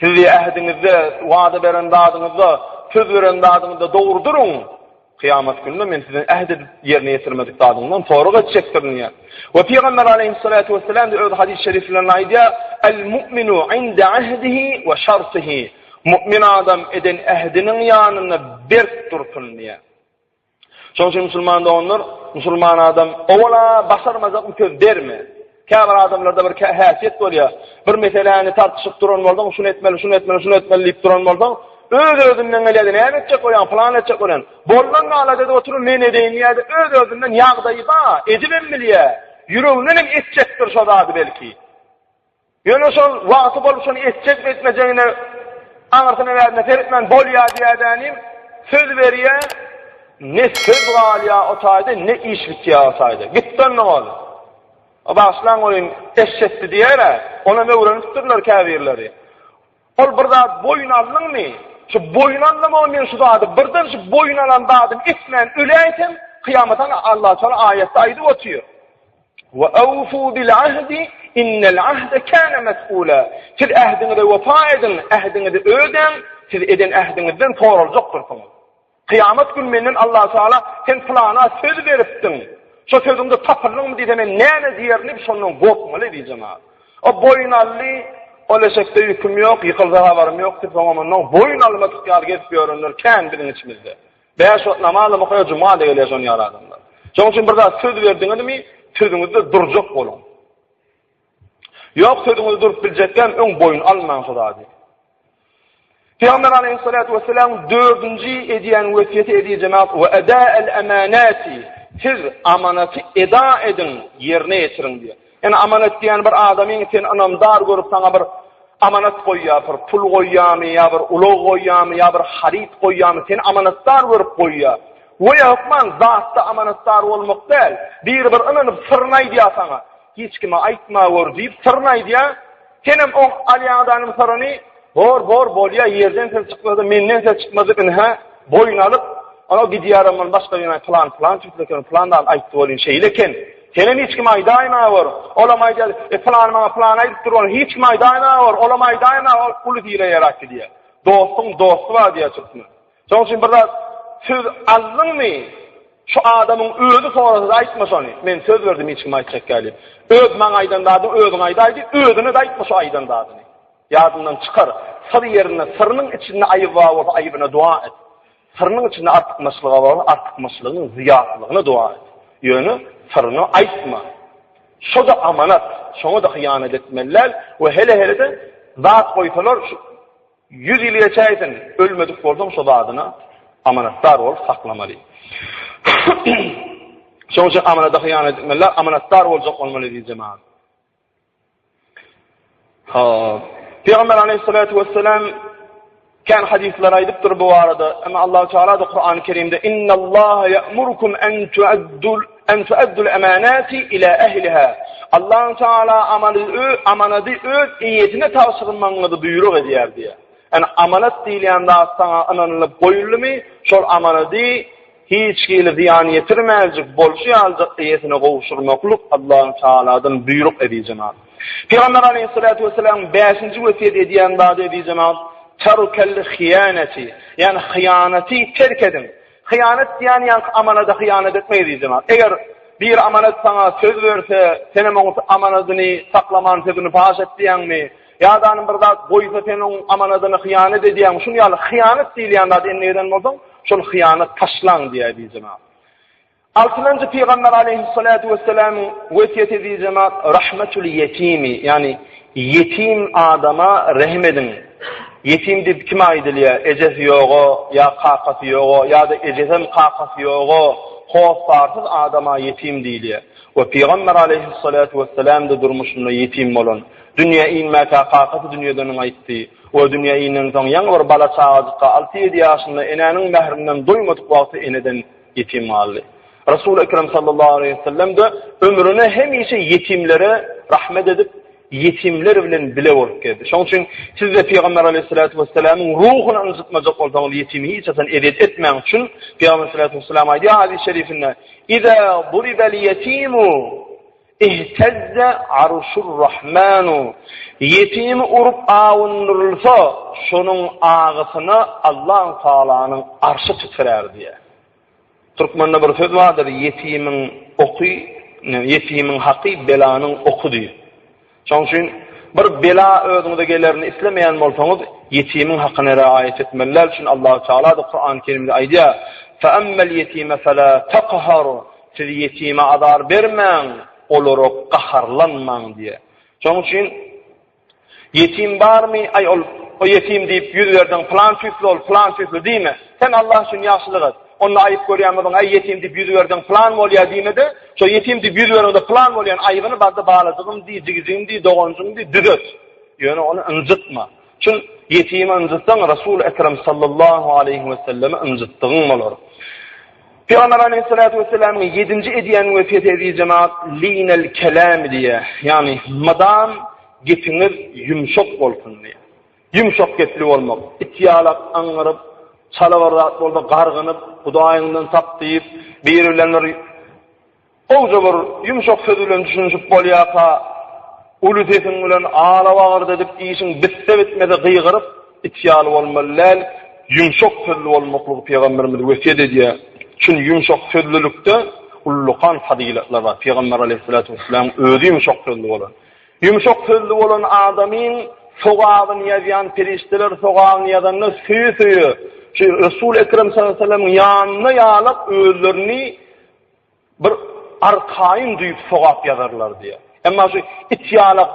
Sizi ähdiňizde, wada beren zadyňyzda, söz beren zadyňyzda dogry duruň. Kyýamat gününde Men sizden äht edip, ýerine ýetirmedik zadyňyzdan sorag etjekdirin diýýär. We Pygamber aleýhyssalatu wesselam-da öz hadys şeriflerinde aýdýar, Al-mu'minu inde ahdihi we şartihi, Mu'min adam eden ähdiniň ýanynda berk dursun diýýär. Şoň üçin musulman doganlar, musulman adam owala başarmajak bir söz berme. Käbir adamlarda bir häsiýet bolýar. Bir meseläni tartyşyp duran bolsaň, şuny etmeli, şuny etmeli, şuny etmeli diýip duran bolsaň, öz-özünden gelýär, näme etjek bolýaň, plan etjek bolýan. Boldan gala dedi oturyp men edeýin diýýärdi, öz-özünden ýagdaýy bar, edibem bilýär. Ýüreginden hem etjekdir şo zady belki. Ýöne şol wagty bolup şony etjekmi etmejegine aňyrsyna-bärsine seretmän bolýa diýädänim söz berýä ne söz galýa o taýda ne iş bitýä o taýda. Gitdi onda hol. O bagyşlaň goýun eşşetdi diýerä onam öwrenipdirler käbirleri. Ol bir zat boýun aldyňmy şu boýun alnamagy men şu zady birden şu boýun alan zadym etmän öläýsem kyýamat Alla taýala aýatda aýdyp otyr. We awfu bil ahdi innel ahde kana mes'ula. Siz ähdiňize wepa ediň, ähdiňizi ödäň, siz eden ähdiňizden soraljakdyrsyňyz. Kyýamat güni menden Allah Taala sen pylana söz beripdiň, şo sözüňde tapyldyňmy diýse men näme diýerin diýip şondan gorkmaly diýjema. O boýun aldy, ol eşekde ýüküm ýok, ýykylsa habarym ýok diýip soňam ondan boýun almadyk ýaly gezip ýörenler kän biziň içimizde. Bäş wagt namaz hem okaýar, juma-da gelýär şonuň ýaly adamlar. Şonuň üçin bir zat söz berdiňizmi, sözüňizde durjak boluň. Ýok, sözüňizde durup biljekkäm, öň boýun almaň şo zady. Pygamber aleýhissalatu wessalam dördünji edýän wesýeti edi jemaat we eda el amanati siz amanaty eda ediň ýerine ýetiriň diýýär. Ene amanat diýýän bir adamyň seni ynamdar görüp saňa bir amanat goýýapyr, pul goýýamy ýa bir ulag goýýamy ýa bir haryt goýýamy seni amanatdar görüp goýýa. We hökman zatda amanatdar bolmak däl. Biri bir ynanyp syryny aýdýa saňa. Hiç kime aýtma gör diýip syryny aýdýa. Senem oň alýan adanyň sorany, Bor, bor, bolýa, ýerden ses çykmasa, menden ses çykmasa, ynha, boýun alyp, Ana gidýärin men başga ýene plan plan çykypken plan dal aýtdy welin şeýle eken. Senem hiç kim aýdaýma bor. Olam aýdýar, e plan maňa plan aýdyp dur ol hiç kim aýdaýma bor. Olam aýdaýma ol uly hile ýaratdy diýýär. Dostuň dosty bar diýýär türkmen. Şonuň üçin bir zat söz aldyňmy, şu adamyň özi sorasa-da aýtma şony, men söz berdim hiç kime aýtjak däldiýip. Öz maňa aýdan zadyňy özüň aýdaý diý, özüne-de aýtma şu aýdan zadyňy. Ýadyňdan çykar, syr ýerinde, syrynyň içinde aýyby bar bolsa aýybyna doga et. Syrynyň içinde artykmaçlygy bar bolsa artykmaçlygynyň zyýatlylygyna doga et. Ýöne syryňy aýtma. Şo-da amanat, şoňa-da hyýanat etmeli däl we hele-hele-de zat goýsalar şu Ýüz ýyl ýaşaýsyn, ölmedik bolsaň şo zadyna amanatdar bolup saklamaly. Şoň üçin amanada hyýanat etmeliler, amanatdar boljak bolmaly diýjemaz. Ha, Pygamber aleyhissalatu vesselam kan hadisler aýdypdyr bu barada. Emma Allahu Teala da Kur'an-ı Kerimde innallahu ya'murukum an tu'addul An tu'addul amanati ila ahliha. Allahu Taala amaly ö, amanady öz eýesine tabşyrmagyňyzy buýruk edýär diýýär. Ýani amanat diýilýän zat saňa ynanylyp goýuldymy, şol amanady hiç hili zyýan ýetirmäýjek bolşy ýaly eýesine gowşurmaklyk Allahu Taaladan buýruk eziz jenap. Pygamber Aleýhissalatu wessalam bäşinji wesýet edýän zady eziz jenap, Tarukal hyýanati, ýani hyýanaty terk ediň. Hyýanat diýýän ýaňky amanada hyýanat etme gyzjana. Eger bir amanat saňa söz berse, senem oň amanadyny saklaman sözüni paş etdiýäňmi? Ýadanym bir zat goýsa sen oň amanadyny hyýanat edýäňmi? Şuny ýaly hyýanat diýilýän zady endigeden bolsaň, şol hyýanat taşlaň diýýär gyzjana. Altynjy pygamber aleýhyssalatu wessalamyň wesýet ediji zat rahmatul ýetimi, ýagny ýetim adama rehim ediň. Ýetim diýip kime aýdylýar? Ejesi ýoga ýa kakasy ýoga ýa-da ejesem kakasy ýoga hossarsyz adama ýetim diýilýär. We pygamber aleýhyssalatu wessalamda durmuşynda ýetim bolan. Dünýä inmäkä kakasy dünýeden gaýtdy. We dünýä inensoň ýaňy bir bala çagajykka alty-ýedi ýaşynda enäniň mährinden doýmadyk wagty eneden Ýetim galdy. Resul Ekrem sallallahu aleýhi we sellem-de ömrüne hemişe ýetimlere rahmet edip, ýetimler bilen bile bolup geldi. Şonuň üçin siz-de Pygamber aleýhissalatu wessalamyň ruhuny ynjytmajak bolsaňyz, ýetimi hiç haçan ezýet etmäň üçin Pygamber sallallahu aleýhi we sellem aýdýar hadys-şerifinde: "Iza buribel ýetimu" Ihtezze arşur Rahmanu, ýetim urup awundyrylsa, şonuň agysyna Allahu Tagalanyň arşy titrär diýýär. Türkmende bir söz bardyr, ýetimiň oky, ýetimiň haky belanyň oky diýip. Şonuň üçin bir bela özüňize gelerini islemeýän bolsaňyz, ýetimiň hakyna riaýat etmeli. Näme üçin Allahu Tagala-da Kurany Kerimde aýdýar, Fe emmel ýetime fela takhar, Siz ýetime azar bermäň, olara gaharlanmaň diýýär. Şonuň üçin Ýetim barmy? Aý ol o ýetim diýip ýüz berdiň, plan tüýsli ol, plan tüýsli diýme. Sen Allah üçin ýagşylyk et. Onda aýyp görýän bolsaň, aý ýetim diýip ýüz berdiň, plan bolýar diýme-de, şo ýetim diýip ýüz berende plan bolýan aýybyny barda balajygym diý, jigijigim diý, doganjygym diý, düzet. Ýöne ony ynjytma. Kim ýetimi ynjytsaň, Resul-i Ekrem sallallahu aleýhi wesellemi ynjytdygyň bolar. Pygamber aleýhissalatu wessalamyň ýedinji edýän wesýeti eziz jemaat linel kelam diýýär. Ýagny mydam gepiňiz ýumşak bolsun diýýär. Ýumşak gepli bolmak, it ýalak aňňyryp, çala bir zat bolsa gargynyp, Hudaýyňdan sap diýip, biri bilen bir Gowja bir ýumşak söz bilen düşünişip bolýarka, uly sesiň bilen ala-bagyrda edip işiň bitse-bitmese gygyryp, it ýaly bolmaly däl, ýumşak sözli bolmaklygy Pygamberimiz wesýet edýär. Çün ýumşak sözlülikde ullakan fazylatlar bar. Pygamber aleýhissalatu wesselam özi ýumşak sözli bolan. Ýumşak sözli bolan adamyň sogabyny ýazýan perişdeler sogabyny ýazanda söýe-söýe şu Resul ekrem sallallahu aleýhi weselemiň ýanyna ýalap özlerini Bir arkaýyn düýp sogap ýazarlar diýýär. Emma şu it ýalak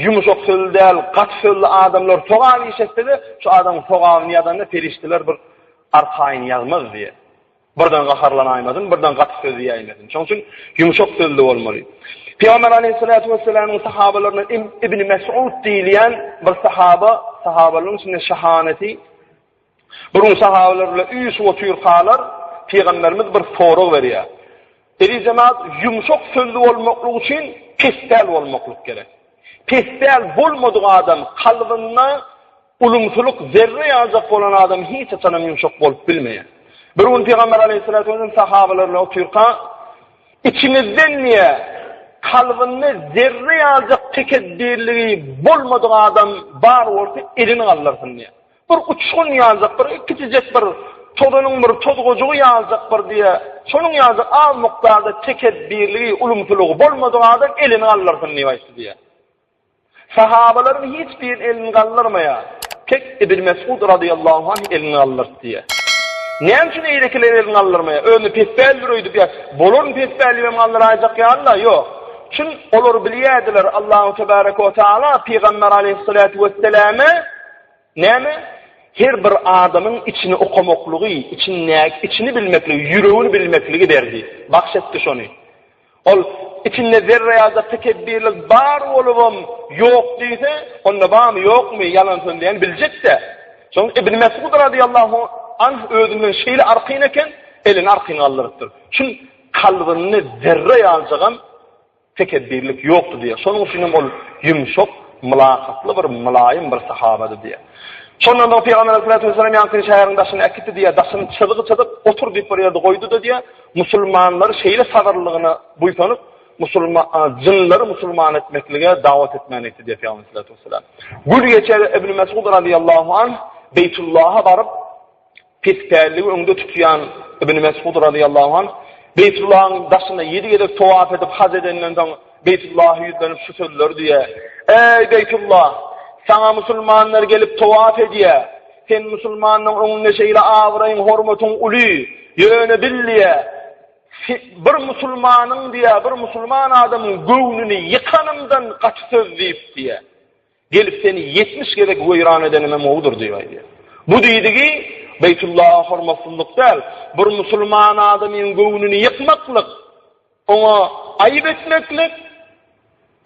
ýumşak sözli däl, gaty sözli adamlar sogap iş etse-de, şu adamyň sogabyny ýazanda perişdeler bir arkaýyn ýazmaz diýýär. Birden gaharlanaýmasyn, birden gaty söz diýäýmesin. Şonuň üçin ýumşak sözli bolmaly. Pygamber aleýhissalatu wessalamyň sahabalaryndan Ibn Mes'ud diýilýän bir sahaba, sahabalaryň içinde şahaneti, Bir gün sahabeler bilen üýşüp otyrkalar, Pygamberimiz bir sorag berýär. Eli jemaat, ýumşak sözli bolmaklyk üçin pespäl bolmaklyk gerek. Pespäl bolmadyk adam kalbynda ulumsylyk zerre ýaljak bolan adam hiç haçanam ýumşak bolup bilmeýär. Bir gün Pygamber aleyhissalatu vesselam sahabeler bilen otyrka, içiňizden niye kalbynda zerre ýaljak tekebdirligi bolmadyk adam bar bolsa elini galdyrsyn diýär. Bir uçgun ýaljak bir kiçijek bir tozanyň bir tozgajygy ýaljak bir diýe, şonuň ýaljak az mukdarda tekepbirligi, ulumsylygy bolmadyk adam elini galdyrsyn diýip aýtdy diýýär. Sahabalaryň hiç biri elini galdyrmaýar. Tek Ibn Mesud razyýallahu anh elini galdyrdy diýýär. Näme üçin eýlekiler elini galdyrmaýar? Özüne pespälidir öýdüp ýa? Bolaryn pespäli hem galdyraýjak ýaly-la, ýok. Çün, olar bilýärdiler, Allahu tebaraka we taala pygamber aleýhissalatu wesselame, Näme? Her bir adamyň içini okamaklygy, içindäki, içini bilmekligi, ýüregini bilmekligi berdi, bagş etdi şony. Ol içinde zerre ýa-da tekebirlik bar bolubam ýok diýse, onda barmy, ýokmy, ýalan sözleýäni biljek-dä. Şoň Ibn Mesud razyýallahu anh özünden şeýle argyn eken, elini argyn galdyrypdyr. Şul kalbynda zerre ýaljagam Tekepbirlik ýokdy diýýär. Şonuň üçin hem ol ýumşak, mylakatly bir, mylaýym bir sahabady diýýär. Şondan soň Pygamber Aleyhissalatu wesselam ýaňkyny şäheriň daşyna äkitdi diýýär. Daşyny çyzgy çyzyp, otur diýip bir ýerde goýdy-da diýýär. Musulmanlary şeýle sabyrlylygyna buýsanyp, musulma, a, jynlary musulman etmeklige dawat etmäni etdi diýýär Pygamber Aleyhissalatu wesselam. Gül geçer Ibn Mesud radyýallahu anh Beýtullaha baryp, Pes pälligi öňde tutýan Ibn Mesud razyýallahu anh, Beýtullahyň daşyna ýedi gezek towaf edip haj edenden soň, Beýtullaha ýüzlenip şu sözleri diýýär, Eý, Beýtullah! Saňa musulmanlar gelip towaf edýär. Sen musulmanyň öňünde şeýle abraýyň, hormatyň uly. Ýöne bil diýýär, Bir musulmanyň diýýär, bir musulman adamyň göwnüni ýykanymdan gaty söz diýip diýýär. Gelip seni ýetmiş gezek weýran edenime mowudyr diýip aýdýar. Bu diýdigi Beýtullaha hormatsyzlyk däl, bir musulman adamyň göwnüni ýykmaklyk, oňa aýyp etmeklik,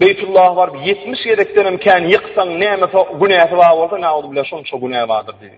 Beýtullaha baryp ýetmiş gezekdenem kän ýyksaň, näme günäsi bar bolsa, na'uzubillah, şonça günä bardyr diýdi.